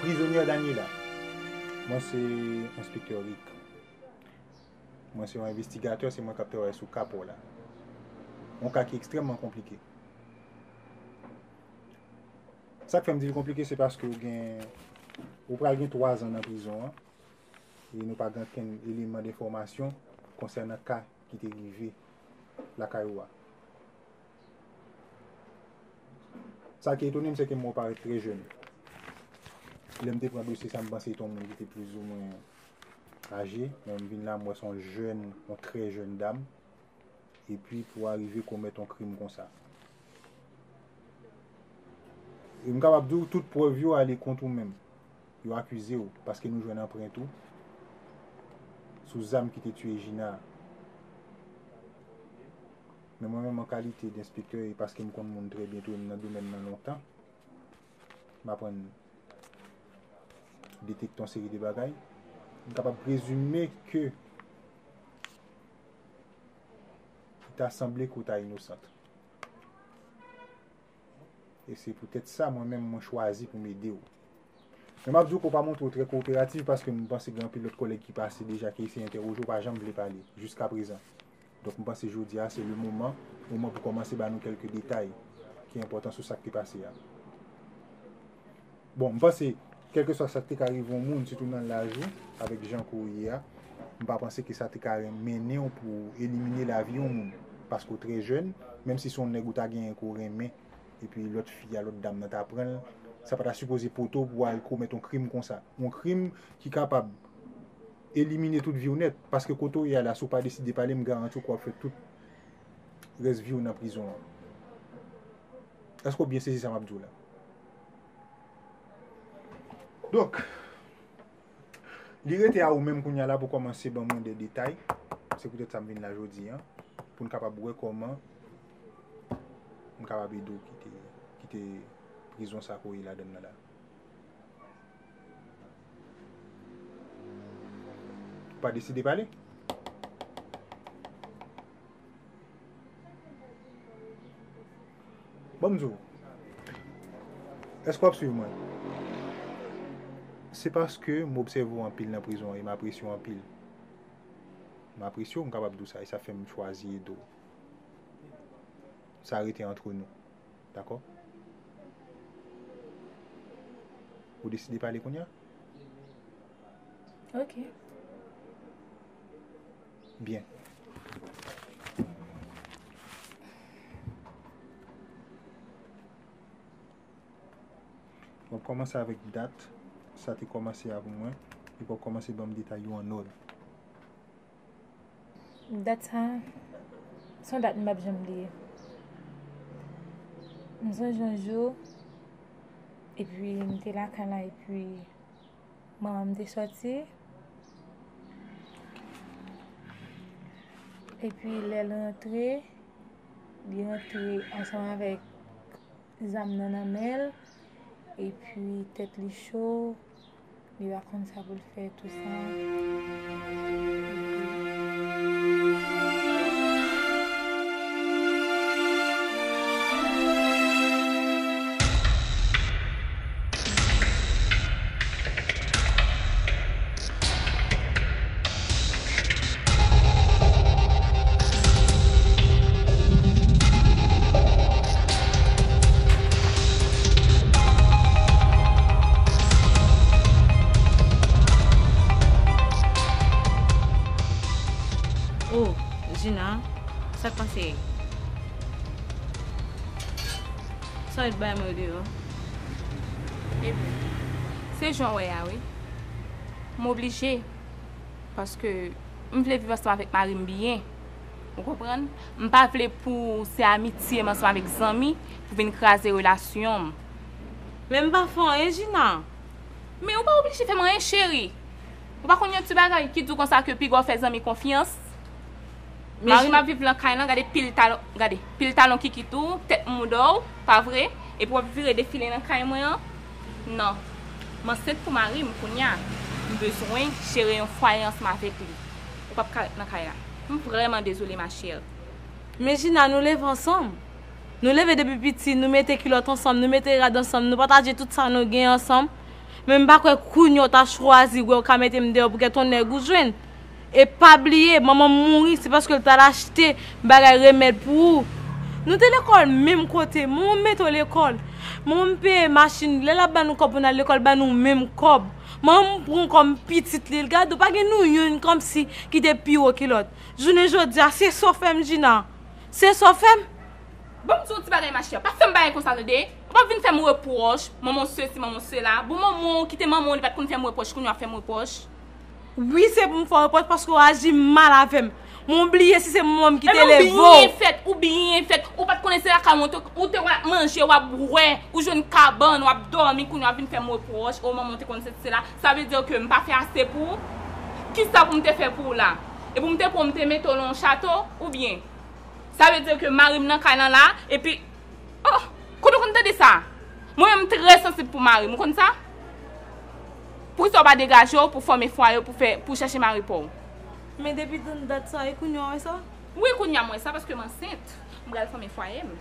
Prizonyè Daniela Mwen se enspektè Rick. Mwen se yon envestigatè, se mwen k ap travay sou ka pa w la. Yon ka ki ekstrèmman konplike. Sa k fè m di l konplike se paske ou gen, ou pral gen twazan nan prizon an e nou pa gen okenn eleman denfòmasyon konsènan ka ki te rive lakay ou a. Sa ki etone m se ke mwen parèt trè jèn. Lè m te pran dosye sa m panse se te yon moun ki te plizoumwen aje, men m vin la m wè se yon jèn, yon trè jèn dam, epi pou arive komèt yon krim konsa. E m kapab di w tout prèv yo ale kont ou menm. Yo akize w, paske nou jwenn anprent ou sou zam ki te tiye Gina a. Men mwen menm an kalite denspektè e paske m konn moun trè byen tou e m nan domèn nan lontan, m aprann detekte yon seri de bagay. M kapab prezime ke li ta sanble ke ou ta inosant. E se poutèt sa mwen menm mwen chwazi pou m ede w. Men m ap di w ke w pa montre w trè kowoperativ paske m panse gen anpil lòt kòlèg ki pase deja ki eseye entèwoje w pa janm vle pale jiskaprezan. Donk m panse jodi a se le moman pou mwen pou kòmanse ba nou kèlke detay ki enpòtan sou sa k te pase a. Bon, m panse, kèlkeswa sa k te ka rive yon moun, sitou nan laj ou, avèk jan kò w ye a, m pa panse ke sa te ka mennen w pou elimine lavi yon moun. Paske w trè jèn, menm si se yon nèg ou ta genyen ke w renmen, epi lòt fi a, lòt dam nan ta pran l, sa pa ta sipoze pote w pou w al komèt yon krim konsa. Yon krim ki kapab. Elimine tout viw nèt, paske kote ou ye a la si ou pa deside pale m garanti w ke wap fè tout rès viw nan prizon an. Eske w byen sezi sa map diw la? Donk, li rete a ou menm kounya la pou kòmanse ban mwen de detay, se poutèt sa m vin la jodi an, pou n kapab wè kòman m kapab ede w kite prizon sa ke w ye ladan nan la. Ou pa deside pale? Bon m di w, èske w ap swiv mwen? Se paske m obsève w anpil nan prizon an e m apresye w anpil. M apresye w, m kapab di w sa e sa fè m chwazi ede w. Sa rete antre nou. Dakò? Ou deside pale kounye a? Ok. Byen. Wap kòmanse avèk dat sa te kòmanse avèk mwen, epi wap kòmanse banm detay yo an òd. Dat sa, se yon dat m pap janm bliye. M sonje yon jou, epi m te lakay la, epi manman m te soti, epi lè l rantre, li rantre ansanm avèk zam nan nan men l, epi tèt li cho. Li va konn sa pou l fè tou sa. Oh Gina sak pase e? Sa w ret bay mwen yo deyò? Ebyen se jan w wè a wi. M oblije. Paske m vle viv ansanm avèk mari m byen. Ou konprann? M pa vle pou se amitye m ansanm avèk zanmi pou vin kraze relasyon m. Men m pa fè anyen Jina. Men ou pa oblije fè m anyen cheri. Ou pa konn yon ti bagay ki di w konsa ke piga w fè zanmi konfyans. Mari m ap viv lan kay lan gade pil talon, gade, pil talon kikit ou, tèt mouda w, pa vre? Epi w ap vire defile nan kay mwen an. Non. M ansent pou mari m kounya. M bezwen jere yon fwaye ansanm avèk li. Ou pap ka ret nan kay la. M vrèman dezole ma chère. Men Jina, nou leve ansanm. Nou leve depi piti, nou mete kilòt ansanm, nou mete rad ansanm, nou pataje tout sa nou gen ansanm. Men m pa kwè kounya w ta chwazi wè w ka mete m deyò pou kèk ton nèg ou jwenn. E pa bliye manman m mouri se paske l t al achte bagay remèd pou ou. Nou te lekòl menm kote. Manman m mete w lekòl. Manman m peye machin. Lè l ap ba nou kòb pou n al lekòl l ba nou menm kòb. Manman m pran w kòm pitit li. L gade w pa gen nou youn kòmsi ki te pi wo ke lòt. Jounen jodi a se sa w fè m Djina. Se sa w fè m. Ban m di w yon ti bagay machè. Pa fè m bagay konsa tande. Ou pa vin fè m repwòch. Manman w sesi manman w sela. Bon manman w ki te manman w li pa t konn fè m repwòch kounye w ap fè m repwòch. Wi se pou m fè repwòch paske ou aji mal avè m. Men ou bliye si se mwen m ki te leve ou. Emen ou byen fèt, ou byen fèt. Ou pat konnen se lakay mwen ou te wè ap manje, wap bwè, ou jwenn kabann, wap dòmi kounye a wap vin fè m repwòch, o manman ou te konn sesi sela. Sa vle di ke m pa fè ase pou ou? Kisa pou m te fè pou ou la? E pou m te pran w m te mete w lan yon chato? Oubyen sa vle di ke mari m nan kay lan la epi. Oh! Kote w konn tande sa? Mwen menm m trè sansib pou mari m ou konn sa? Poukisa w pa degaje w pou fòme fwaye w pou fè pou w chèche mari pa w? Men depi tann dat sa e kounya w wè sa? Wi kounya m wè sa paske m ansent m pral fòme fwaye m.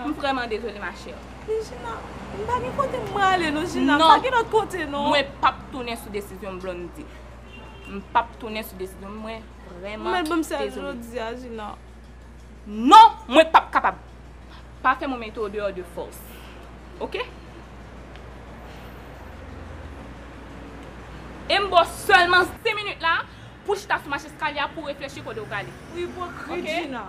M vrèman dezole ma chère. Men Jina, m pa gen kote m prale non Jina, m pa gen lòt kote non. Non! Mwen p ap tounen sou desizyon m Blondedy. M p ap tounen sou desizyon m mwen vrèman dezole. Ou mèt ban m sèl jodi a Jina. Non mwen pap kapab. Pa fè mwen mete w deyò de fòs. Ok. E m ba w sèlman 5 minit la pou w chita sou mach eskalye a pou w reflechi kote w prale. Ou ipokrit Jina.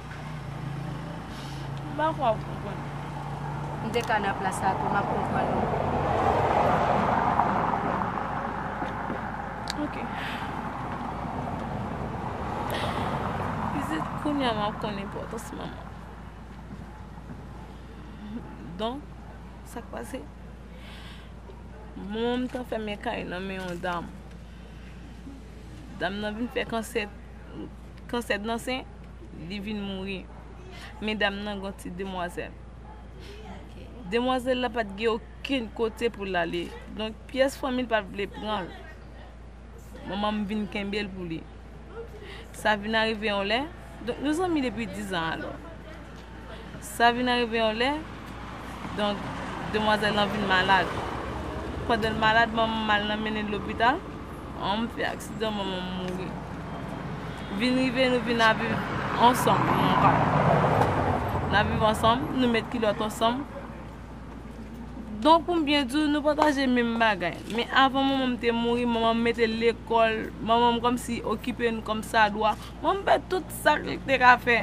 M pa kwè w konprann. M te ka nan plas la tou, m ap konprann ou. Ok. Pitit kounye a m ap konn enpòtans manman. Donk, sa k pase? Manman m t anfèmen kay nan men yon dam. Dam nan vin fè kansèt. Kansèt nan sen. li vin mouri. Medam nan gon ti demwazèl. Demwazèl la pat gen okenn kote pou lale. Donk pyès fanmi l pat vle pran l. Manman m vin kenbe l pou li. Sa vin arive yon lè, donk nou zanmi depi dizan alò. Sa vin arive yon lè, donk demwazèl lan vin malad. Pandan l malad, manman m al nan mennen l lopital, an m fè aksidan manman m mouri. Vin rive nou vin ap viv ansanm mwen ak papa m. N ap viv ansanm, nou met kilòt ansanm. Donk pou m byen di w, nou pataje menm bagay. Men avan manman m te mouri, manman m mete l lekòl, manman m kòmsi okipe n kòmsadwa. Mwen m fè tout sak li te ka fè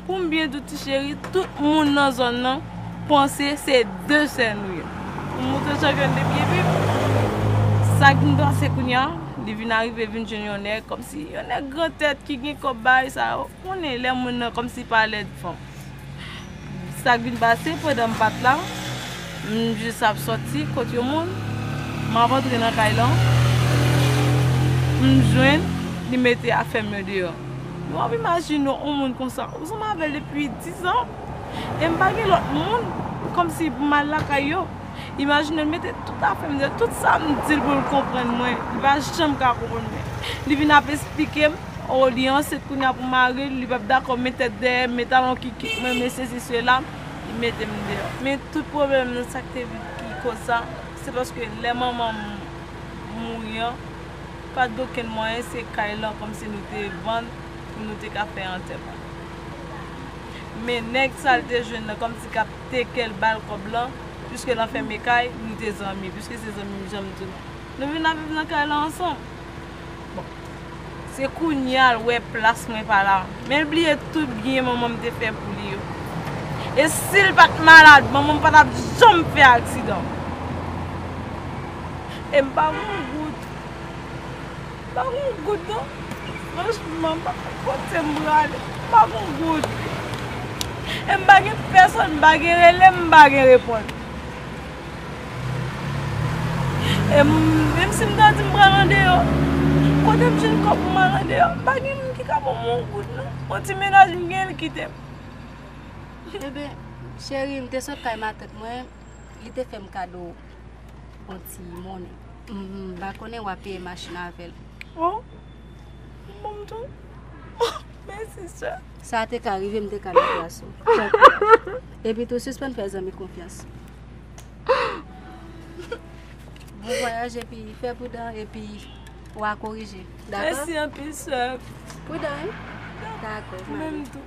poum byen di w ti cheri tout moun nan zòn nan panse se 2 sè nou ye poum moutre chanpyòn depi epi sak vin pase kounya li vin arive vin jwenn yon nèg kòmsi yon nèg gran tèt ki gen kòb bagay sa yo konnen lè moun nan kòmsi pa lèd fanm Sak vin pase pandan m pat la, m jis ap soti kot yon moun, m ap antre nan kay lan, m jwenn li mete afè m yo deyò. Nou ap imajine yon moun konsa, ou zanmi avè l depi 10 an, e m pa gen lòt moun, kòmsi pou m al lakay yo. Imajine l mete tout afè m deyò, tout sa m di l pou l konprann mwen, li pa janm ka konprann mwen. Li vin ap esplike m. Oh li ansent kounya pou maril li pap dakò men tèt dèyè men talon kikit mwen men sesi sela li metem deyò. Men tout pwoblèm nan sak te vit ki koz sa se paske lè manmanm mouri an pat gen okenn mwayen se kay lan kòmsi nou te vann pou nou te ka fè antèman men nèg sal te jwenn nan kòmsi kap tekel bal kòb lan piske l anfème kay nou te zanmi piske se zanmim janm di nou nou vin ap viv nan kay lan ansanm. Bon. Se kounya l wè plas mwen pa la. Men l bliye tout byen manman m te fè pou li yo. E si l pa t malad, manman m pa t ap janm fè aksidan. E m pa gen yon goud. M pa gen yon goud non. Franchman, m pa konn kote m prale. M pa gen yon goud. E m pa gen pèsòn m pa gen rele m pa gen reponn. E menm si m ta di m pral andeyò, kote m jwenn kòb pou m al andeyò? M pa gen moun ki ka ban m yon goud non. Yon ti menaj m genyen l kite m. Eben, cheri, m te sot kay matant mwen, li te fè m kado yon ti monnen. M pa konnen w a peye machin avè l. O! Bon tou. Mèsi sè. Sa te ka rive m te ka nan plas ou. Tanpri. Epi tou sispann fè zanmi konfyans. Bon vwayaj epi fè pridan epi wa korije. Dakò? Mèsi anpil sè. Pridan wi. Dakò. Ou menm tou.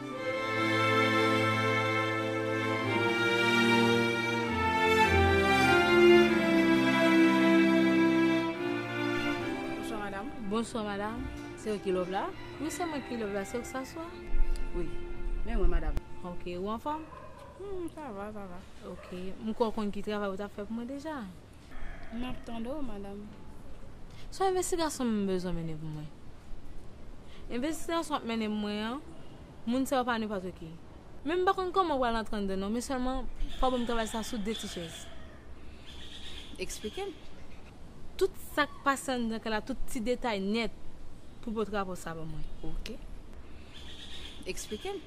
Bonswa madam, se ou ki love la? Wi se mwen ki love la, se ou k sa swa? Wi, men mwen madam. Ok, ou anfòm? Sa va, sa va. Ok, m kwè ou konn ki travay ou ta fè pou mwen deja? Map tande w madam. Son envestigasyon m bezwen mennen pou mwen. Envestigasyon wap mennen pou mwen an, moun sa yo pa nenpòt ki. Men m pa konn kòman ou pral antre anndan non, men sèlman fò banm travay sa sou 2 ti chèz. Eksplike m. Tout sak pase anndan kay la, tout ti detay nèt pou pote rapò sa ban mwen. Ok. Eksplike m.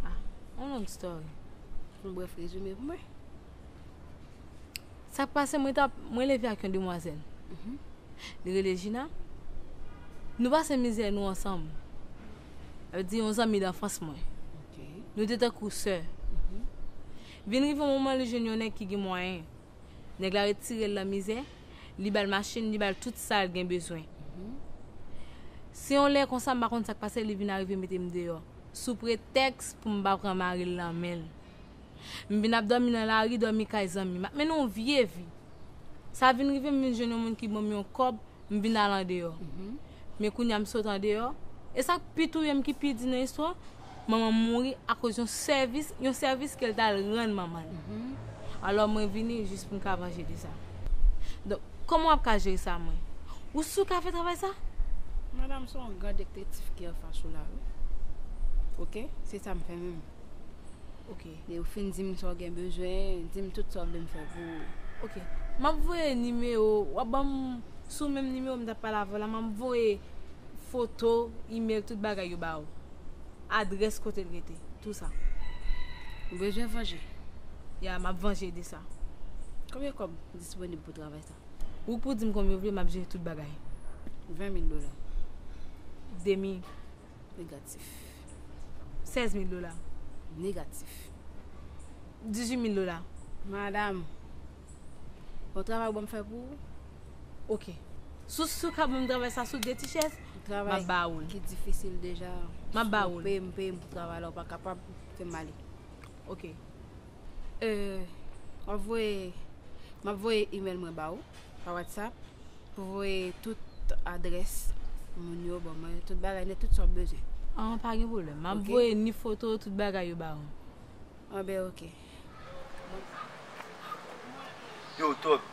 Ah, yon long story. Yon brèf rezime pou mwen. Sa k pase mwen tap mwen leve ak yon demwazèl. Mhm. Li rele Gina. Nou pase mizè nou ansanm. Avè di yon zanmi d'anfans mwen. Nou te tan kou sè. Mhm. Vin rive moman li jwenn yon nèg ki gen mwayen. Nèg la retire l la mizè, li bal machin, li bal tout sa l gen bezwen. Mhm. Si yon lè konsa m pa konn sa k pase li vin arive mete m deyò. Sou pretèks pou m pa pran mari l nan men l. M vin ap dòmi nan lari, dòmi kay zanmi. M ap mennen yon vye vi. Sa vin rive m vin jwenn yon moun ki ban m yon kòb, m vin al andeyò. Men kounye a m sot andeyò. E sa k pi touye m, ki pi di nan istwa, manman m mouri akoz yon sèvis, yon sèvis ke l t al rann manman l. Alò mwen vini jis pou m ka vanje de sa. Donk, kòman w ap ka jere sa mwen? Ou si w ka fè travay sa? Madanm, se yon gran dektetif ki anfas ou la wi. Ok, se sa m fè menm. Ok. Lè ou fin di m sa w gen bezwen, di m tout sa w vle m fè pou ou. Ok. M ap voye nimewo, w ap ban m sou menm nimewo m t ap pale avè w la, m ap voye foto, imèl, tout bagay yo ba ou. Adrès kote l rete, tou sa. Ou bezwen vanje? Ya, m ap vanje de sa. Konbyen kòb disponib pou travay sa? Ou pou di m konbyen ou vle, m ap jere tout bagay. 20 mil dola. Demi. Negatif. 16 mil dola. Negatif. 18 mil dola. Madam. Bon travay ou banm fè pou ou. Ok. Sou sou ka banm travay sa sou de ti chèz, map ba ou l. Travay ki difisil deja. Map ba ou l. Peyem peyem pou travay la ou pa kapab fèm ale. Ok. Euh wap voye map voye email mwen ba ou pa WhatsApp pou voye tout adrès moun yo ban mwen tout bagay nèt tout sa wap bezwen. An pa gen pwoblèm. Map Ok. voye ni foto tout bagay yo ba ou. Anben ok. Yo top.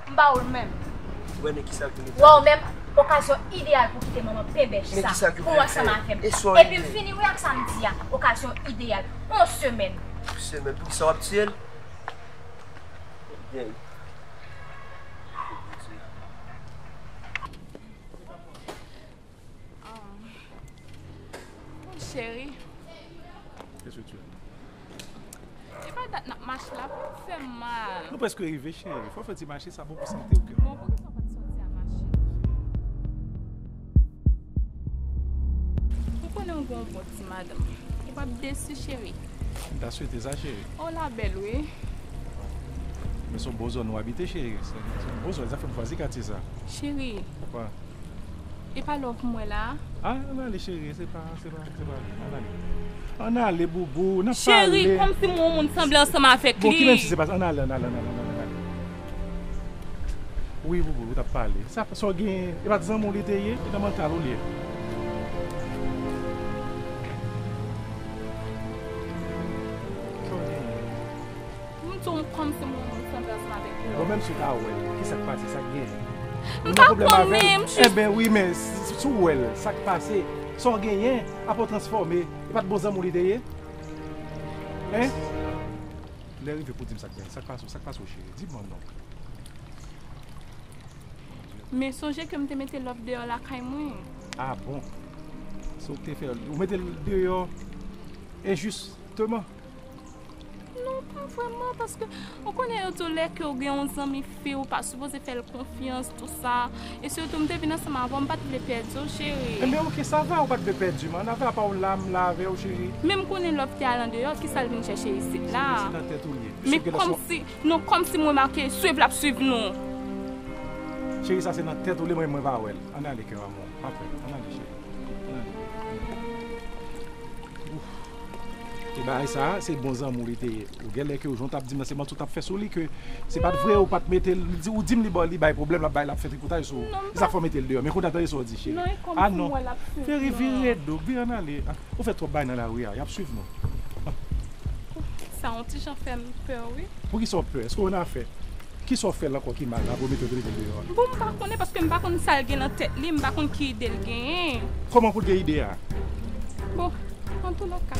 M ba ou l menm. Wè men kisa l vini fè. Wè w menm okazyon ideyal pou kite manman penbèch sa pou w ansanm avè m. Epi m fini wi ak sa m di a okazyon ideyal. On semèn. On semèn poukisa w ap tiye l? Ebyen. Cheri Se pa dat nap mache la pou ou fèm mal Nou preske rive cheri Fò fè ti mache sa bon pou sante ou kèm Ou konnen ou gen yon bon ti madanm Ou pap desi cheri M ta swete sa cheri Ou la bèl wi Men son bon zòn ou abite cheri Zafèm chwazi katye sa Cheri Apa Epa love m wè la a. Ah an ale cherie se pa se pa se pa an ale an ale booboo nap pale cherie komsi m wè yon moun sanble ansanm avèk li bon ki menm si se pa sa an ale an ale an ale an ale wi booboo ou tap pale sa sa w gen e pat zanmi w li te ye e nan mantal ou li ye. M tou m konn se moun moun san plas m avek yo. Bon menm si w pa wèl kisak pase sak gen. M pa konnen m jis. Enben wi men si w wèl sak pase sa w genyen aprè w transfòme e pat bon zanmi w li te ye hein. Lè rive pou w di m sak genyen sak pase w sak pase w cheri di mwen non. Men sonje ke m te mete love deyò lakay mwen. Ah bon se w k te fèl ou metel deyò enjis teman. Non pa vreman paske ou konnen yo di w lè ke ou gen yon zanmi fi ou pa sipoze fè l konfyans tou sa e sitou m te vin ansanm avè w m pat vle pèdi w cheri. Enben ok sa va ou pat vle pèdi m an avè apa w la m la avè w cheri. Men m konnen love te al andeyò kisa l vin chèche isit la. Isit an tèt ou l ye. Men kòmsi non kòmsi m remake swiv l ap swiv nou. Cheri sa se nan tèt ou l ye mwen va wè l ann ale kè m amou pa pè ann ale cheri ann ale. Ebay sa se bon zanmou li te ye ou genlè ke ou jan w tap dim nan se manti w tap fè sou li ke se pat vre ou pat mete l ou dim li ba li bay pwoblèm lap bay lap fè tripotaj sou ou se sak fè w mete l deyò men kounye a tande sa w di cheri a non cheri vire do vire ann ale ou fè twòp bagay nan lari a yap swiv nou sa on ti jan fè m pè wi poukisa w pè èske w annafè. Kisa w fè l ankò ki mal la pou w mete l vin rete deyò a? Bon m pa konnen paske m pa konn sa l gen nan tèt li, m pa konn ki ide l genyen. Kòman pou l gen ide a? Bon, an tou lè ka.